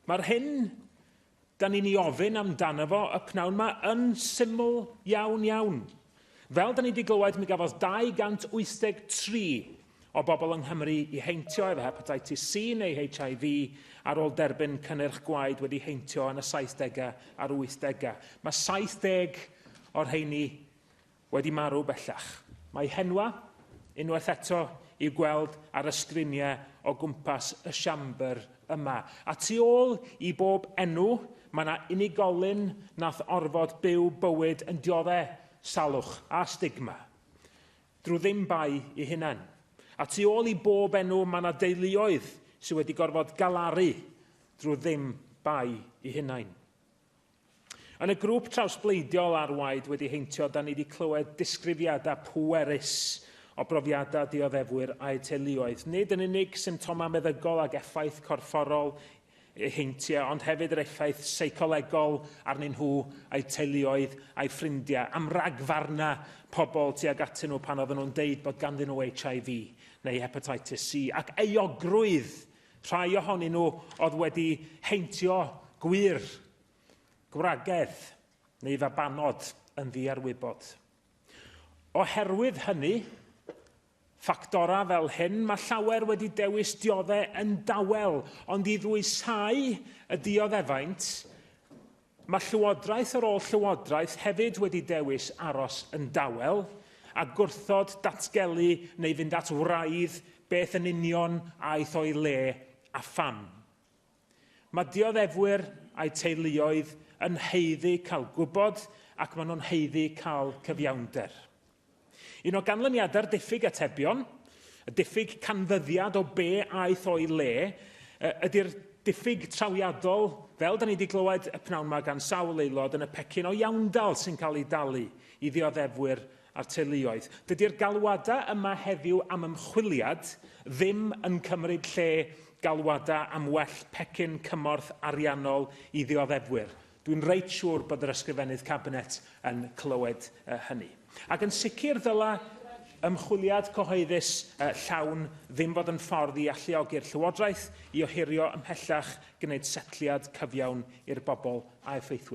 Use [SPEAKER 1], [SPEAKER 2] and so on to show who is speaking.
[SPEAKER 1] Mae'r hyn da ni'n ei ofyn amdano fo y pnawn yma yn syml iawn iawn. Fel da ni wedi glywed, mi gafodd 283 o bobl yng Nghymru i heintio efo hepatitis C neu HIV ar ôl derbyn cynnyrch gwaed wedi heintio yn y 70au a'r 80au. Mae 70 o'r rheini wedi marw bellach. Mae henwa, unwaith eto, i'w gweld ar y sgriniau o gwmpas y Siambr yma. A tu ôl i bob enw, mae yna unigolyn nath orfod byw bywyd yn diodde' salwch a stigma, drw ddim bai 'u hunain. A tu ôl i bob enw, mae yna deuluoedd sy' wedi gorfod galaru drw ddim bai 'u hunain. Yn y grŵp trawsbleidiol ar waed wedi heintio, da ni wedi clywed disgrifiadau pwerus o brofiadau dioddefwyr a'u teuluoedd, nid yn unig symptomau meddygol ac effaith corfforol eu heintiau, ond hefyd yr effaith seicolegol arnyn nhw, a'u teuluoedd, a'u ffrindiau, am ragfarnau pobl tuag atyn nhw pan oedden nhw'n deud bod ganddyn nhw HIV neu hepatitis C, ac euogrwydd Rhai ohonyn nhw oedd wedi heintio gwŷr, gwragedd neu fabanod yn ddiarwybod. Oherwydd hynny, ffactorau fel hyn, mae llawer wedi dewis dioddef yn dawel, ond i ddwysáu y dioddefaint, Mae Llywodraeth yr Ôl-Llywodraeth hefyd wedi dewis aros yn dawel a gwrthod datgelu neu fynd at wraidd beth yn union aeth o'i le a pham. Mae dioddefwyr a'u teuluoedd yn haeddu cael gwybod ac maen nhw'n haeddu cael cyfiawnder. Un o ganlyniadau'r diffyg atebion, y diffyg canfyddiad o be aeth o'i le, ydy'r diffyg trawiadol, fel da ni wedi glywed y pnawn yma gan sawl aelod, yn y pecyn o iawndal sy'n cael ei dalu i ddioddefwyr a'r teuluoedd. Dydy'r galwadau yma heddiw am ymchwiliad ddim yn cymryd lle galwadau am well pecyn cymorth ariannol i ddioddefwyr. Dwi'n reit siŵr bod yr Ysgrifennydd Cabinet yn clywed hynny. Ac yn sicr ddyla ymchwiliad cyhoeddus llawn ddim fod yn ffordd i alluogi'r Llywodraeth i ohirio ymhellach gwneud setliad cyfiawn i'r bobl a effeithwyd.